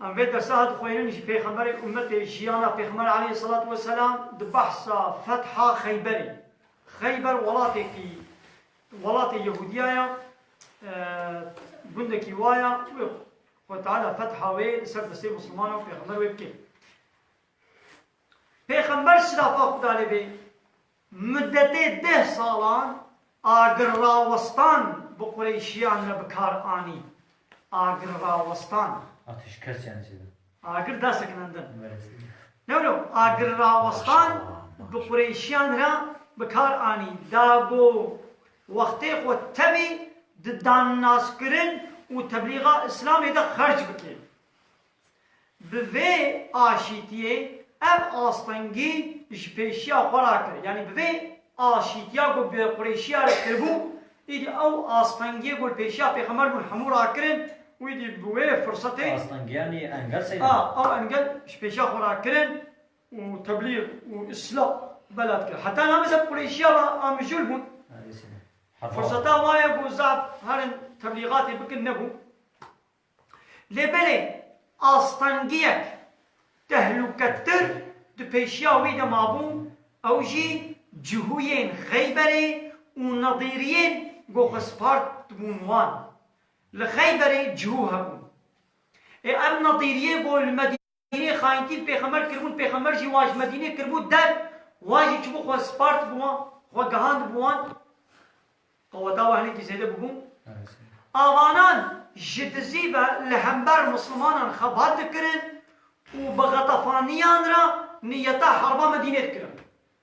Em vê dersa ha dixwînin ji pêxemberê ummetê jiyana pêxember aleyh selat we selam di behsa fetha Xeyberê. Xeyber welatêkî welatê Yehudiya ya gundekî wa ya wê xwe teala fetha wê li ser destê Muslimanan pêxember wê bike. Pêxember silafa Xuda lê bê Mudetê deh salan agir rawestan bi qureyşiyan re bi kar anî. Agir rawestan. Atîşkes yanî çi be? Agir da sekinandin. No no, agir rawestan bi qureyşiyan re bi kar anî. Da go wextê xwe tevî di dannazkirin û teblîxa îslamê de xerc bike. Bi vê aşîtiyê ev astengî ji pêşiya xwe re kir. Yanî bi vê aşîtiya ku bi Qurêşiya re kiribû, îdî ew astengiyê ku li pêşiya pêxember bûn hemû rakirin û îdî bi wê firsetê, Astengiyanî engel sey a, dibe. ew engel ji pêşiya xwe re kirin û teblîg û îsla bela dikirin. Heta name ser Qurêşiya re a mijûl bûn. Firseta wa ye ku zaf herin teblîgatê bikin nebû. Lê belê astengiyek tehlûketir di pêşiya wî de mabû, ew jî cihûyên Xeyberê û nedîriyên ku xwespart dibûn wan. Li Xeyberê cihû hebûn. Ê ev nedîriyê ku li Yê xayintîn pêxember kiribûn pêxember jî wan ji Medînê kiribû der wan jî çibû xwe spart bi wan xwe gehand bi wan qeweta we hinekî zêde bûbû avanan ji dizî ve li hember mislimanan xebat dikirin û bi xetefaniyan re niyeta herba Medînê dikirin.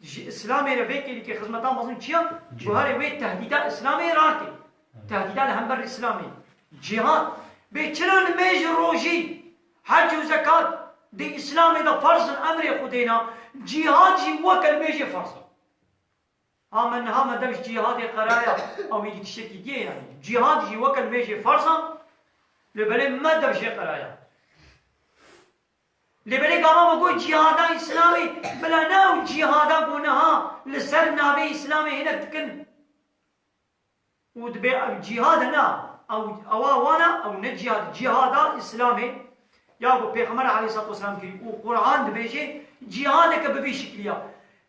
Ji Îslamê re vê kêlikê xizmeta mezin çiya? Guherê wê tehdîda Îslamê rast e. Tehdîda li hember Îslamê, cîhat, bê çira nimêj û rojî, hec û zekat di Îslamê de ferz in, emrê Xwedê ne, cîhat jî weke nimêjê ferz e. Ha me niha me dev ji cîhadê qeraya ew êdî tiştekî dîye yanî? Cîhat jî weke nimêjê ferz e lê belê me dev jê qeraya. Lê belê gava me got cîhada îslamê bila ne ew cîhada ku niha li ser navê îslamê hinek dikin û dibe ev cîhad e na ew ewa wan e ew ne cîhad e cîhada îslamê ya ku pêxember aleyhîssalatu weselam kirî û qur'an dibêje cîhadeke bi vî şiklî ya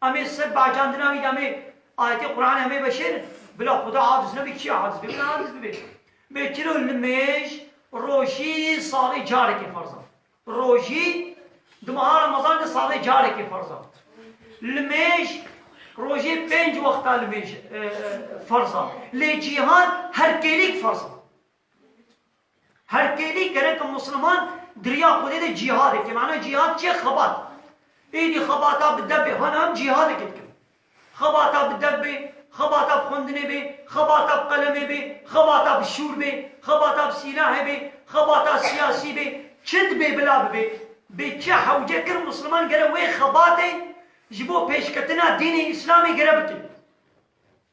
Amê ser Bacan dina wî de amê ayetê Qur'an amê veşêrin. Bila Xuda aciz nebe kî aciz be bila aciz bibe. Mê tiro nimêj rojî salê carekê ferz a. Rojî di meha Ramazan de salê carekê ferz a. Nimêj rojê pênc wexta nimêj e, e, ferz a. Lê cîhan her kêlîk ferz a. Her têdî kereke musliman giriya Xwedê de cîhad e. Kemana cîhad çi ye? Xebat. Êdî xebata bi dev bê. Hana em cîhadekê dikin. Xebata bi dev bê, xebata bi xwendinê bê, xebata bi qelemê bê, xebata bi şûr bê, xebata bi sîlahê bê, xebata siyasî bê, çi dibê bila bibê. Bê çi hewce kir musliman gere wê xebatê ji bo pêşketina dînê îslamê gere bike.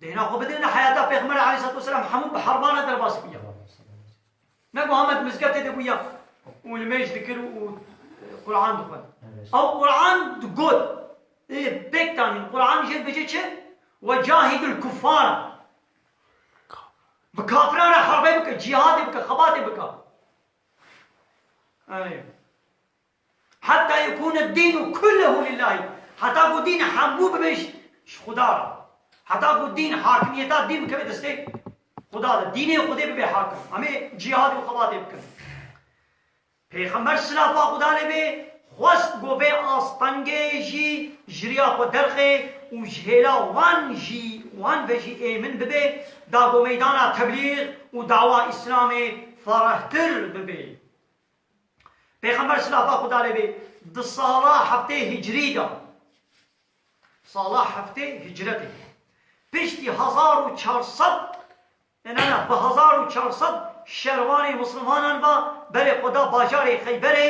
Dêna xwe bidêne heyata Pêxember Aleyhissalatu Vesselam hemû bi herbana derbas bûye. Ne ku Ahmet mizgetê de bûye û li mêj dikir û Quran dixwend. Ew Quran digot. Ê pêk tanîn Quran jê dibêje çi? Ve cahîdil kuffara. Bi kafiran re herbey bike, cîhadê bike, xebatê bike. Eyy. Hatta yekûn ed-dîn u kulluhu lillâhi, heta ku dîn hemû bibe ji Xuda re. Heta ku dîn, hakimiyeta dîn bikeve destê Xuda de. Dînê Xwedê bibe hakim. Em ê cîhadê xebatê bikin. Pêxember silafa Xuda lê bê xwest ku vê astengê jî ji riya xwe derxe û ji hêla wan jî wan ve jî ê min bibe da ku meydana teblîg û dawa Îslamê ferehtir bibe. Pêxember silafa Xweda lê bê di sala heftê hicrî de, sala heftê hicretê, piştî hezar û çar sed e ne ne bi hezar û çar sed şervanê misilmanan ve berê xwe da bajarê Xeyberê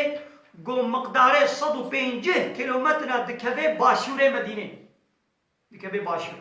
ku miqdarê sed û pêncîh kîlometre ne dikeve başûrê Medînê. Dikeve başûr.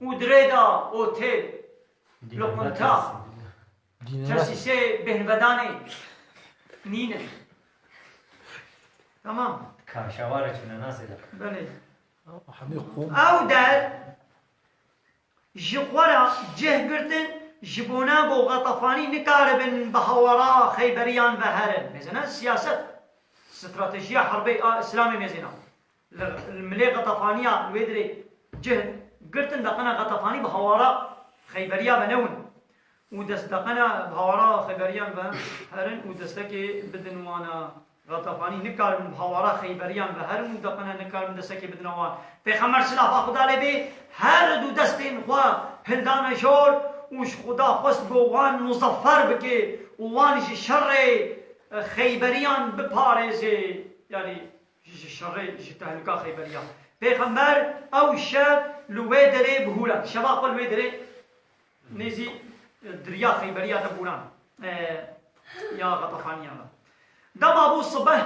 û di rê de otel, loqinta, tesîsê bêhnvedanê nîn in. Tamam. Kaşawarê çûne nasê de. Belê. Ew der ji xwe re cih girtin ji bona bo Xetafanî nikaribin bi hawara Xeyberiyan ve herin. Mêzena siyaset, stratejiya herbê a Îslamê mêzena. Li Milê Xetafaniya li wê dirê cih girtin deqena Xetafanî bi hawara Xeyberiya ve newin û dest deqena bi hawara Xeyberiyan ve herin û destekê bidin wan a Xetafanî nikaribin bi hawara Xeyberiyan ve herin û deqena nikaribin destekê bidina wan. Pêxember silav a Xuda lê bê her du destên xwe hildane jor û ji Xuda xwest ku wan muzeffer bike û wan ji şerê Xeyberiyan biparêze. Yanî ji şerê ji tehlika Xeyberiya. Pêxember ew şev li wê derê bihûre. Şeva xwe li wê derê nêzî diriya Xeyberiya de bûran ya Xetefaniyan de. Dema bû sibeh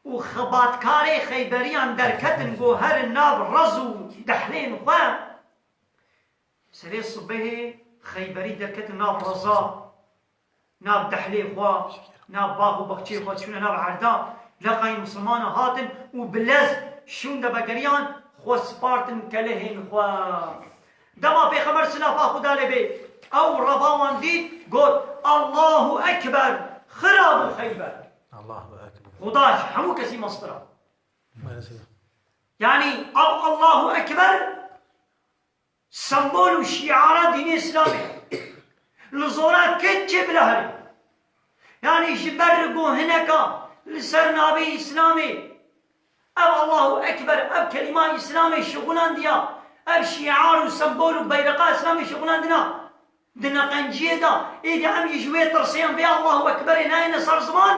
û xebatkarê Xeyberiyan derketin ku herin nav rez û dehlên xwe, serê sibehê Xeyberî derketin nav reza Nav dehlê xwe, nav bax û baxçeyê xwe çûne nav erda, leqayên misilmanan hatin û bi lez şûn devegeriyan xwe spartin kelehên xwe. Dema Pêxember silafa Xuda lê bê ew reva wan dît got, Allahu ekber, xira bû Xeyber. Xuda ji hemû kesî meztir a. Yanî ev Allahu ekber Sembol û şîara dînê îslamê ye. Li zora ked çê bila here. Yanî ji ber li go hineka li ser navê îslamê ev Allahu ekber ev kelîma îslamê şixulandiya ev şîar û sembol û beyreqa îslamê şixulandina di neqenciyê de êdî em jî ji wê tirsiyan vê Allahu ekberê nayêne ser ziman.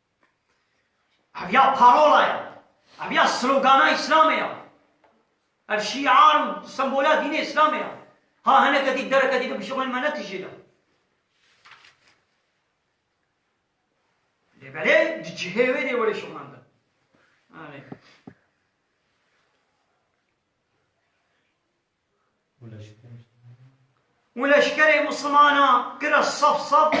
Ev ya parola ye. Ev ya slogana Îslamê ye. Ev şîar û sembola dînê Îslamê ye. Ha hineke dî dereke dî bibijixwînin me netijîne. Lê belê di cihê wê dê were şixulendin. Anî. û leşkerê mislimanan kire saf saf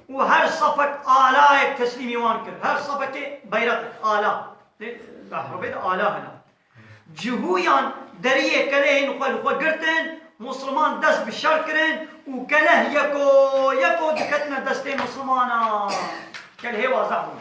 û her safek alayek teslîmî wan kir, her safekê beyreqek, ala, lê di ehrabê de ala hene. Cihûyan deriyê kelehên xwe li xwe girtin, misliman dest bi şer kirin û keleh yeko yeko diketine destê mislimanan. Kelehê wazeh bûn.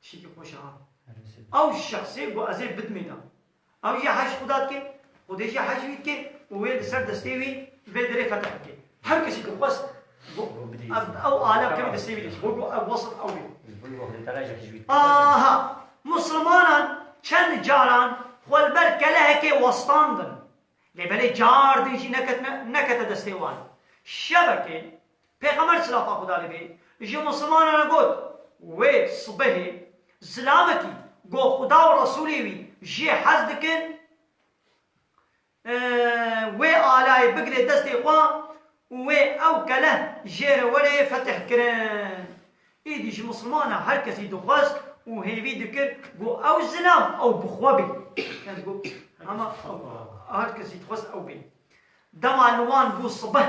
Tiştekî xweş e ha. Ew şexsê ku ez ê bidmînim. Ew jî hej xuda dike, xwedê jî hej wî dike û wê li ser destê wî vê derê fetih bike. Her kesî ku xwest ew alem kevî destê wî de ji bo ku ew wesl ew bê. Aha! Misilmanan çend caran xwe li ber kelehekê westandin. Lê belê car din jî neketine nekete destê wan. Şevekê Pêxember silafa Xuda li bê ji Musilmanan re got, Wê sibehê zilamekî got Xuda û Resûlê wî jê hez dikin wê alayê bigire destê xwe û wê ew keleh jê re were fetih kirin. Êdî ji Musilman re her kesî dixwest û hêvî dikir got ew zilam ew bi xwe bê. Ez got hema ew her kesî dixwest ew bê. Dema li wan bû sibeh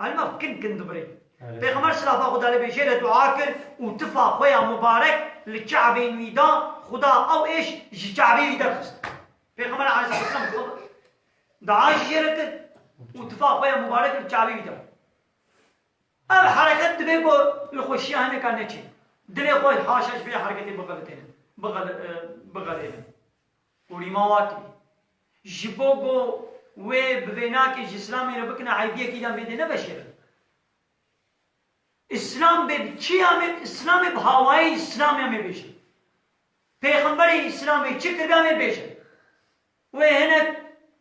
Elmaf kin kin dibirê. Pêxember silafa Xuda li bê jê re dua kir û tifa xwe ya mubarek li Kabeyên wî da, Xuda ew êş ji Kabeyê wî derxist. Pêxember aleyhisselam dua jî jê re kir û tifa xwe ya mubarek li Kabeyê wî da. Ev hereket divê ku li xwe şiya hineka neçê. Dilê xwe haşa ji vê hereketê bixelitêne, bixelêne. Kurîmawatê, ji bo ku wê bi vênakê ji îslamê re bikine eybiyekî de em vê dê neveşêrin. Îslam bê bi kî em ê îslamê bi hawayê îslamê em ê bêjin. Pêxemberê îslamê çi kiribe em ê bêjin. Wê hinek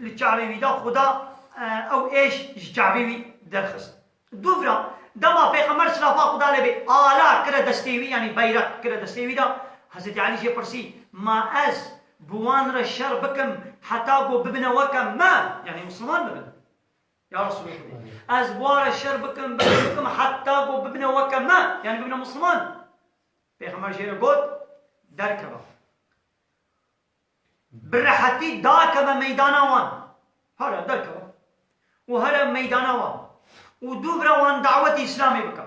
Li çavê wî de Xuda ew êş ji çavê wî derxist. Dûvira, dema Pêxember silafa Xuda lê bê ala kire destê wî yanî beyreq kire destê wî de, Hezretî Elî jê pirsî, Ma ez bi wan re şer bikim heta ku bibine weke me, yanî misilman bibin. Ya Resûlê Xwedê! Ez bi wan re şer bikim, bikim, bikim heta ku bibine weke me, yanî bibine misilman. Pêxember jê re got, Derkeve. bi rehetî dakeve meydana wan, here derkeve û here meydana wan û dûvira wan dawetê Îslamê bike,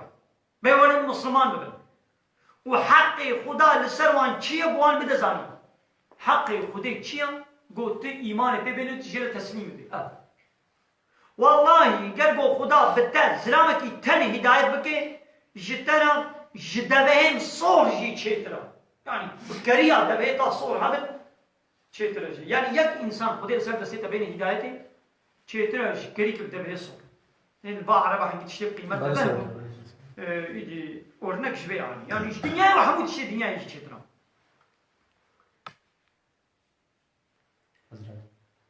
bêwerin Misliman bibin û heqê Xuda li ser wan çi ye bi wan bide zanîn. Heqê Xudê çi ye? Got tu îmanê pê bêne tu jê re teslîm bibî. Ev. Wellahî ger ku Xuda bi te zilamekî tenê hîdayet bike, ji te re ji devehên sor jî çêtir e. Yanî bi keriya devehê ta sor hebin çêtir e jî. Yanî yek însan Xwedê li ser destê te bêne hîdayetê çêtir e ji kerî ku bi devehê sor. Ên li ba ereba hingî tiştê bi qîmet dibe û îdî ornek ji vê re anî. Yanî ji dinyayê û hemû tiştê dinyayê jî çêtir e.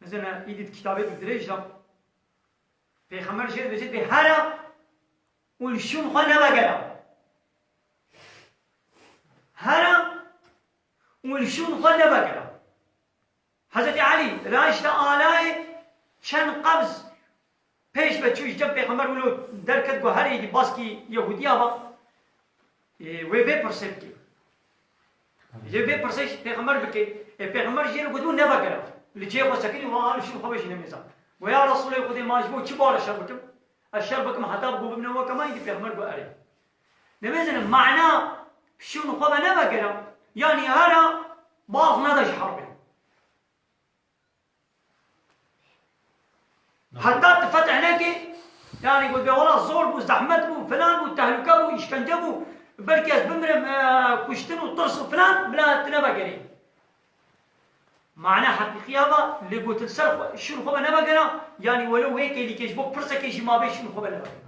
Mezena îdî di kitabekî dirêj de Pêxember jê dibêje bê hera û li şûn xwe nevegera. Hera û li şûn xwe nevegera. Hezretî Elî raşte alayê çend qebz Pêş ve çû ji cem pêxember wilo derket ku herê yekî baskî Yehûdiya ba wê vê pirsê bike. Lê vê pirsê jî pêxember bike. Ê pêxember jê re gotibo nevegere. Li cihê xwe sekinî wa li şûn xwe ve jî nemêza. Got ya Resûlê Xwedê ma ji bo çi bare şer bikim? Ez şer bikim heta ku bibne weke me îdî pêxember got erê. Nibêzinin mana şûn xwe ve nevegere yanî here baz neda ji herbê. Heta tu fetih nekî yanî gotbê wela zor bû, zehmet bû, filan bû, tehluke bû, îşkence bû, belkî ez bimirim, kuştin û tirs û filan bila tu nevegerî. Mana heqîqîya va lê gotin ser şûn xwe ve nevegera yanî welo wê kêlîkê ji bo pirsekê jî mabê şûn xwe ve nevegera.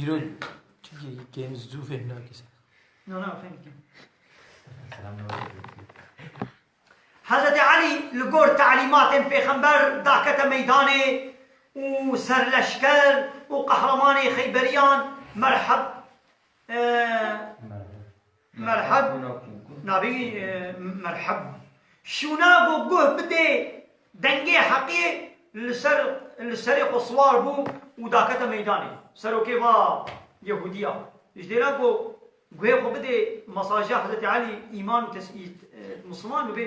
Îro game zû fêm nakî ser. No no fêm dikim. Hezretê Elî li gor telîmatên pêxember dakete meydanê û serleşker û qehremanê xeyberiyan merheb Merheb nabî merheb. Şûna ku guh bidê dengê Heqê li ser li serê xwe siwar bû û dakete meydanê. Serokê va Yehûdiya ji dêra ku guhê xwe bidê mesaja Hezretî Elî îman û tesî misliman bibê.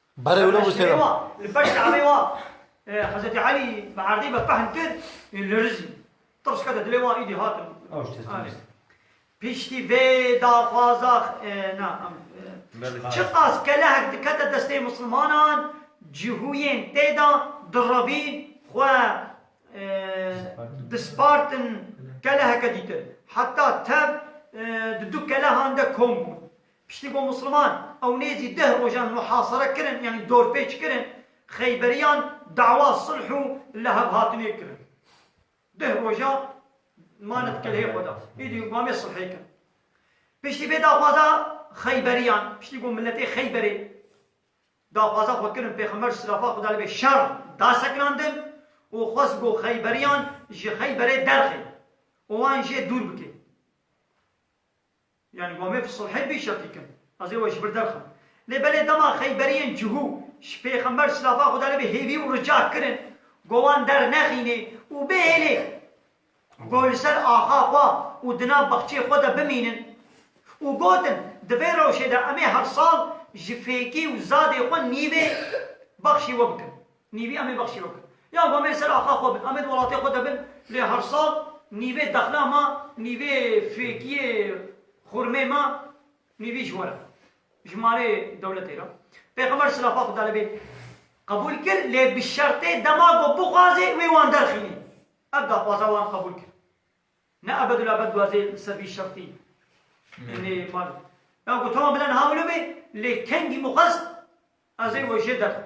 Berê wilo bû sêra. Şerê wa li paş Kabeyê wa Hezretî Elî bi erdê ve qehn kir û li rizî tirs kete dilê wan îdî hatin piştî vê daxwaza na çiqas kelehek dikete destê misilmanan cihûyên tê de direvîn xwe dispartin keleheke dîtir heta tev di du kelehan de kom bûn Piştî ku Misliman ew nêzî deh rojan muhasere kirin yanî dorpêç kirin, Xeyberiyan dawa sulh û lihevhatinê kirin. Deh roja mane di keleyê xwe de. Îdî wame sulhê kirin. Piştî vê daxwaza Xeyberiyan, piştî ku miletê Xeyberê daxwaza xwe kirin Pêxember silafa Xuda li bê şer da sekinandin û xwest ku Xeyberiyan ji Xeyberê derxê û wan jê dûr bike. Yanî Wamê bi sulhê bî şertî kin. Ez ê we ji vir derxim. Lê belê dema Xeyberiyên cihû ji Pêxember silafa Xweda lê be hêvî û rica kirin ku wan dernexînê û bihêlê ku li ser axa xwe û di nav baxçê xwe de bimînin û gotin, Di vê rewşê de em ê her sal ji fêkî û zadê xwe nîvê baxşî we bikin. Nîvî em ê bexşîrok yan ku em ê ser axa xwe bin, em ê di welatê xwe de bin lê her sal nîvê dexna ma, nîvê fêkiyê xurmê ma nîvî ji we re, ji malê dewletê re. Pêxember silafa Xuda li bê qebûl kir lê bi şertê dema ku bixwazê wê wan derxînê. Ev daxwaza wan qebûl kir. Ne ebedulabed guazê li ser vî şertî ê nê malê. Ya ku tama bila niha wilo bê lê kengî mixwest Ez ê wê jê derxim.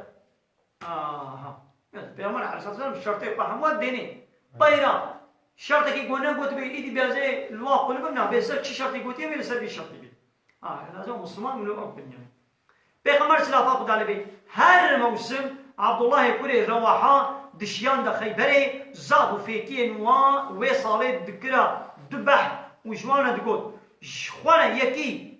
Aha. Gelek Peygamber aleyhissalatu vesselam şertê xwe hemû dêne. Peyra şertekî ku negotibê îdî bê ez ê li wan qûl bim na, bê ser çi şertê gotiye bê li ser vî şertê bê. Aha, ez ê Musliman min ew binyaye. Peygamber silafa Xuda li bê her mewsim Abdullahê kurê Rewaha dişiyan de Xeyberê, zaf û fêkiyên wan wê salê dikira du behm û ji wan re digot, Ji xwe re yekî,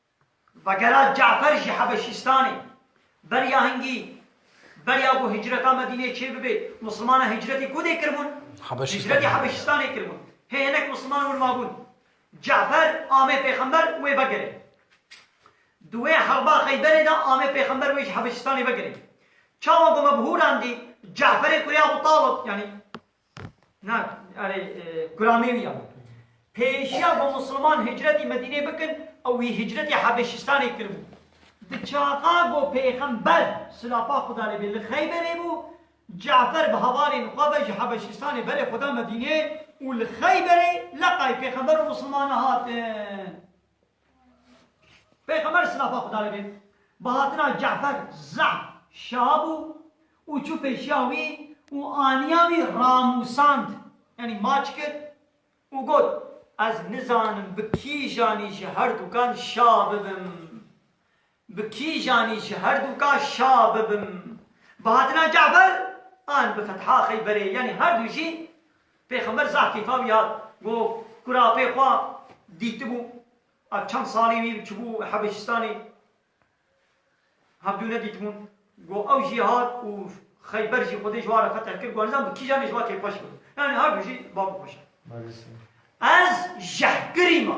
Vegera Cafer ji Hebeşîstanê. Beriya hingî, beriya ku hicreta Medîneyê çêbibe, misilmanan hicretê ku dê kiribûn? Hicretê Hebeşîstanê kiribûn. Hê hinek misilman wir mabûn. Cafer ame pêxember wê vegere. Di wê herba Xeyberê de ame pêxember wê ji Hebeşîstanê vegere. Çawa ku me bi hûran dî, Caferê kurê Ebû Talib, yanî Na, erê, guramê wî ya. Pêşiya ku Musulman hicretî Medîneyê bikin, ew wî hicretî Hebeşîstanê kiribû. Di çaxa ku Pêxember, silapa Xweda lê bê, li Xeyberê bû, Ce'fer bi hevalên xwe ve ji Hebeşîstanê berê xwe da Medîneyê û li Xeyberê leqay Pêxember û Musulmanan hatin. Pêxember silafa Xuda li bê bi hatina Ce'fer zaf şa bû û çû pêşiya wî û aniya wî ramûsand yanî maç kir û got, Ez nizanim bi kîjanî ji herdukan şa bibim. Bi kîjanî ji herdûka şa bibim. Bi hatina Ce'fer an bi fetha Xeyberê yanî herdû jî Pêxember zah keyfa wî hat. Got, Kura pê xwe dîtibû a çend salî wî çibû Hebeşistanê hevdû nedîtibûn. Got, ew jî hat û Xeyber jî Xwedê ji wa re feteh kir. Got, nizan bi kîjanê ji wa kêfxweş bibim. Yanî herdû jî bavê xweş e. Ez jehkirî ma.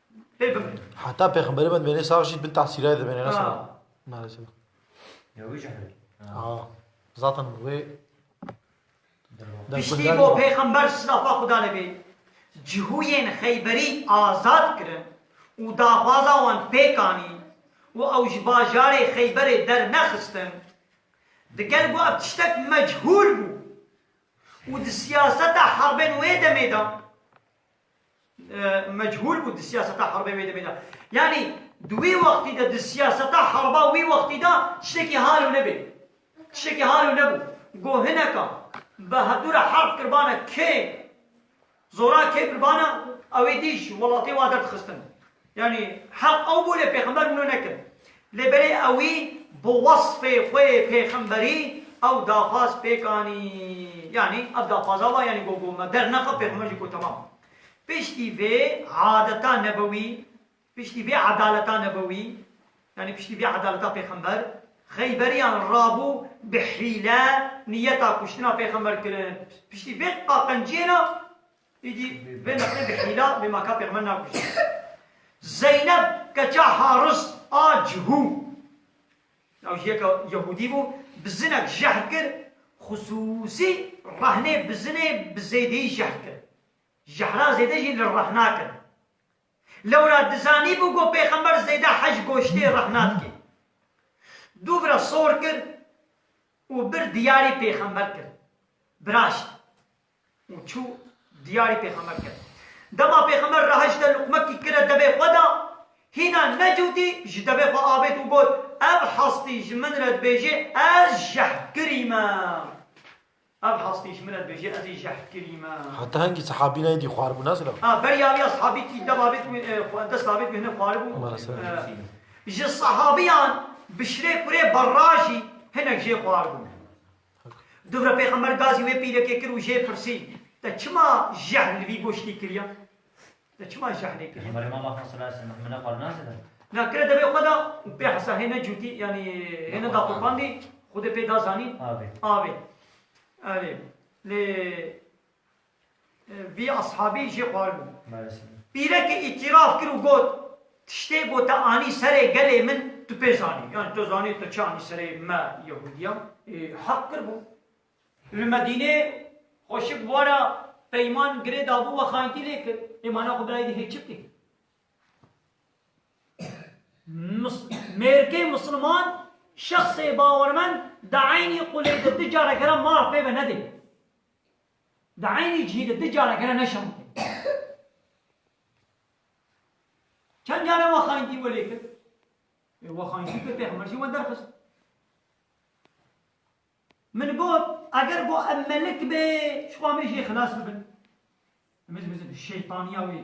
Heta pêxemberê me dimêne sax jî bin tesîrayê dimêne ne sal. Maalesef. Ya wî jî hevî. Ha. Zaten wê Piştî bo pêxember silafa Xuda li bê cihûyên Xeyberî azad kirin û daxwaza wan pêk anî û ew ji bajarê Xeyberê dernexistin. Diger ku ev tiştek mechûl bû û di siyaseta herbên wê demê de, mechûl bû di siyaseta herbê wê demê de. Yanî di wî wextî de di siyaseta herba wî wextî de tiştekî hal û nebê. Tiştekî hal û nebû. Go hineka bi hevdû re herb kirbane kê zora kê birbane ewê dî ji welatê wa derdixistin. Yanî heq ew bû lê pêxember wino nekir. Lê belê ewî bi wesfê xwe yê pêxemberî ew daxwaz pêk anî. Yanî ev daxwaza wa yanî gogo me dernexe pêxember jî ku temam. Piştî vê adeta nebewî, piştî vê edaleta nebewî, yanî piştî vê edaleta pêxember, xeyberiyan rabû bi hîle niyeta kuştina pêxember kirin. Piştî vê qaqenciyê re Îdî vê nexê bi hîla vê maka pêxme nakujî. Zeyneb keça Haris a Cihû, ew jî yeka Yehûdî bû, bi zinek jehr kir, xisûsî rehnê bi zinê bi zêdeyî jehr kir. Jehra zêde jî li rehna kir. Lewra dizanîbû ku pêxember zêde hej goştê rehna dike. Du vira sor kir û bir diyarê pêxember kir. Biraşt, û çû diyarî pêxember kir. Dema pêxember re heşt de luqmekî kire devê xwe de, hîna necûtî ji devê xwe avêt û got, Ev hestî ji min re dibêje ez jehkirî me. Ev hestî ji min re dibêje ezî jehkirî me. Heta hingî sahabî neyndî xwar bû nasra. A, beriya vî ya sahabî kî dev avêt wî e, dest avêt wî hinek xwar bû. Ji sahabîyan bişirê kurê berra jî hinek jê xwar bû. Dûvre Pêxember gazî wê pîrekê kir û jê pirsî, Te çima jehl li vî goştî kiriya? Te çima jehlê kiriya? Pêxemberê ma maxa sala aleyh selam hemine xwe li nas dide. Na kire devê xwe da û pê hesa hêne cûtî yanî hêne daqopandî Xwedê pê da zanîn avê. Avê. Erê. Lê Vî eshabî jê xwaribû. Pîrekê îtîraf kir û got, Tiştê ku te anî serê gelê min tu pê zanî. Yanî tu zanî tu çi anî serê me Yehûdiyan. Ê heq kir bû. Li Medînê xweşik wara peyman girê dabû we xayintî lê kir. Ê mana xwe birayî dihê çi bikê? Mêrikê misilman, şexsê bawermend di eynî qulê de du careke re maf pê ve nedê. Di eynî cihî de du careke re neşan dide. Çend care we xayintî welê kir? Ê we xayintî kir pêxember jî we derxist. Min got eger bo em melik bê, ji xwe em ê jê xilas bibin. Em ê bizitin şeytaniya wê.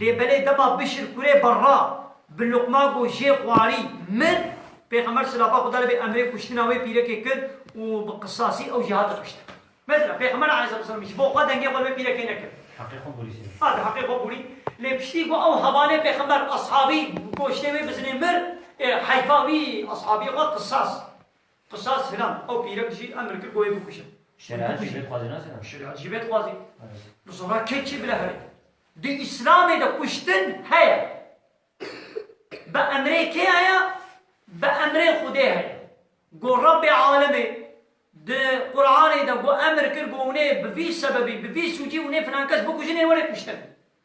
Lê belê dema Bişr kurê Barra bi luqma got jê xwarî mir, pêxember silafa Xweda li bê emrê kuştina wê pîrekê kir û bi qisasî ew jî hate kuştin. Mesela pêxember aleyh selatu selam ji bo xwe dengê xwe li wê pîrekê nekir. Heqê xwe borî sê. A di heqê xwe borî. Lê piştî ku ew hevalê pêxember eshabî goştê wê bizine mir, ê heyfa wî eshabî xwe qisas. Qisas hinan, ew pîrek jî emr kir ku wê bikuje. Şeriat jî vê dixwazê nas hinan. Şeriat jî vê dixwazê. Bi zora kê kî bile herî. Di Îslamê de kuştin heye. Bi emrê kê heye? Bi emrê Xwedê heye. Ku Rabbê Alemê di Quranê de ku emr kir ku hûnê bi vî sebebî, bi vî sûcî hûnê filan kes bikujin ê were kuştin.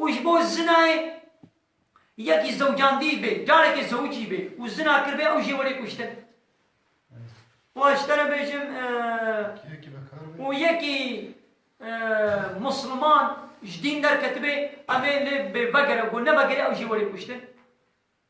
Û ji bo zinayê yekî zewcandî bê, carekê zewicî bê û zina kiribê ew jê welê kuştin. Û ez ji te re bêjim û yekî musliman ji dîn derketibê, em ê lê bê vegere, ku nevegere ew jê welê kuştin.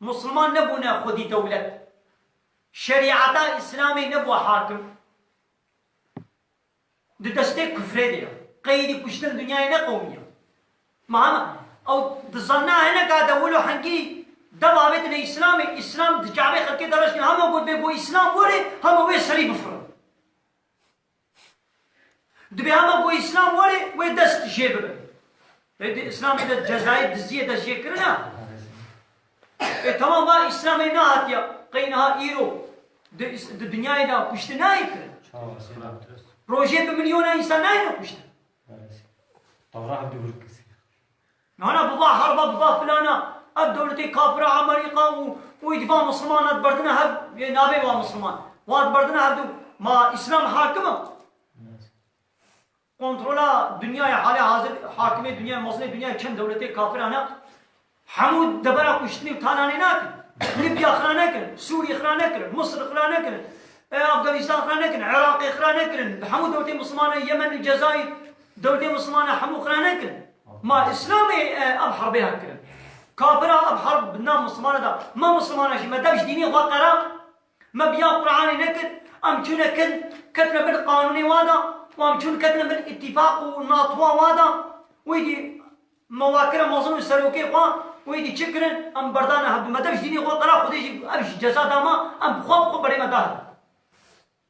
Musulman nebûne xwedî dewlet. Şerîeta Îslamê nebû hakim. Di destê kufrê de ye. Qeydî kuştin dinyayê ne qewimî ye. Ma hema ew dizanina hineka dewil û hingî dev avêtine Îslamê, Îslam di çavê xelkê de reştîne. Hema got bê ku Îslam were, hema wê serî bifirin. Dibe hema ku Îslam were wê dest jê bibin. Ê di Îslamê de cezayê diziyê dest jê kirin a? Ê temam a Îslamê nehatiya qey niha îro di di dinyayê de kuştin nayê kirin. Rojê bi milyona însan nayêne kuştin. Nana biba herba biba filana ev dewletê kafira Amerîka û û îdiva musliman ediberdina hev yê nabê wa musliman wa diberdina hevdu ma îslam hakim a kontrola dinyayê halê hazir hakimê dinyayê mezlê dinyayê çend dewletê kafiran a hemû debera kuştinê û tananê nakin Libya xira nekin Sûrî xira nekirin Misir xira nekirin Afganîstan xira nekirin Iraqê xira nekirin hemû dewletê muslimana Yemen û Cezayîr Dewltê Mislimane hemû xira nekin. Ma Îslamê ev herbê hat kirin. Kafira ev herb bi nav Mislimane da. Me Mislimane jî me dew ji dînê xwe qera. Me bi ya Quranê nekir. Em çûne kin ketine bin qanûnê wa da û em çûn ketine bin îtîfaq û natoa wa da û êdî me wa kire mezin û serokê xwe û êdî çi kirin em berdane hev. Me dew ji dînê xwe qera. Xwedê jî ev ji ceza da me. Em bi xwe bi xwe berê me da hev.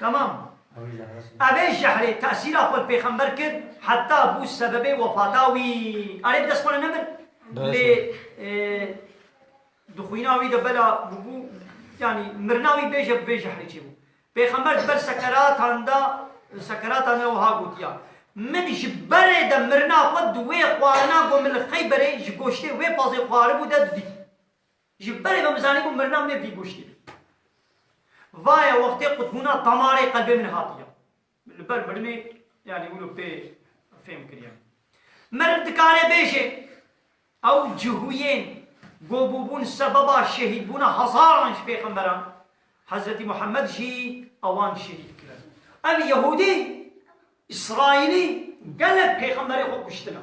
Tamam. Evê jehrê tesîra xwe pêxember kir heta bû sebebê wefata wî. Erê bi dest xwe re nebir. Lê e, dixwîna wî de bela bûbû yanî mirina wî bêje bi vê jehrê çêbû. Pêxember di ber sekeratan de sekeratan de wiha gotiya. Min ji berê de mirina xwe di wê xwarina ku min li Xeyberê ji goştê wê pazê xwaribû de didît. Ji berê min bizanîbû mirina min ê vî goştê be. Vaye wextê qutbûna damarê qelbê min hatiye. Li ber mirinê yanî wilo pê fêm kiriye. Meriv dikare bêje ew cihûyên ku bûbûn sebeba şehîdbûna hezaran ji pêxemberan, Hezretî Muhemmed jî ewan şehîd kirin. Ev yehûdî, îsraîlî gelek pêxemberê xwe kuştine.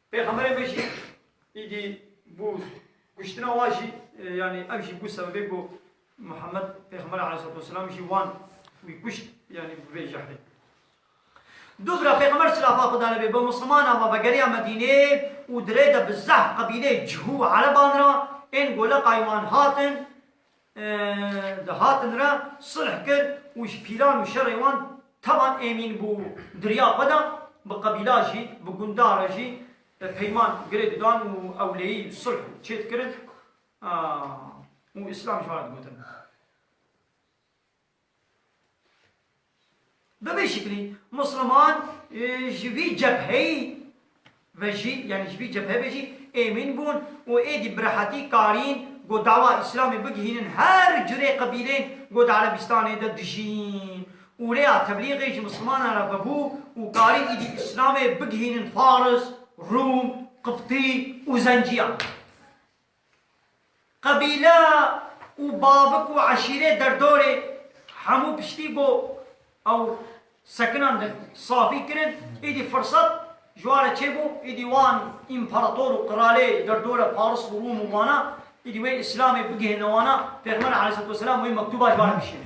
Pêxemberê me jî îdî bû kuştina wan jî yanî ev jî bû sebebê ku Muhammed pêxember aleyhîsselatu wesselam jî wan wî kuşt yanî bi vê jehrê. Dubra pêxember silafa Xweda li bê bi mislimanan ve vegeriya Medînê û di rê de bi zehf qebîleyê cihû û ereban re ên goleqayê wan hatin, Di hatin re sulh kir û ji pîran û şerê wan tevan êmîn bû. Diriya xwe da bi qebîla jî, bi gundan re jî peyman girê didan û ewleyî sulh çêdikirin û îslam ji wan re digotin. Bi vî şiklî Musliman ji vî cepheyî ve jî yanî ji vî cephe ve jî êmîn bûn û êdî bi rehetî karîn ku dawa Îslamê bigihînin her curê qebîleyên ku di Erebîstanê de dijîn û rêya teblîgê ji Muslimanan re vebû û karîn êdî Îslamê bigihînin Faris, Rûm, Qibtî û Zenciyan. Qebîle û bavik û eşîrê derdorê hemû piştî ku ew sekinan li safî kirin, îdî firsat ji wan re çêbû, îdî wan împarator û qiralê derdore Faris û Rûm û wana, îdî wê îslamê bigihîne wana, pêxember aleyhîsselatu weselam wê mektûba ji wan re bişîne.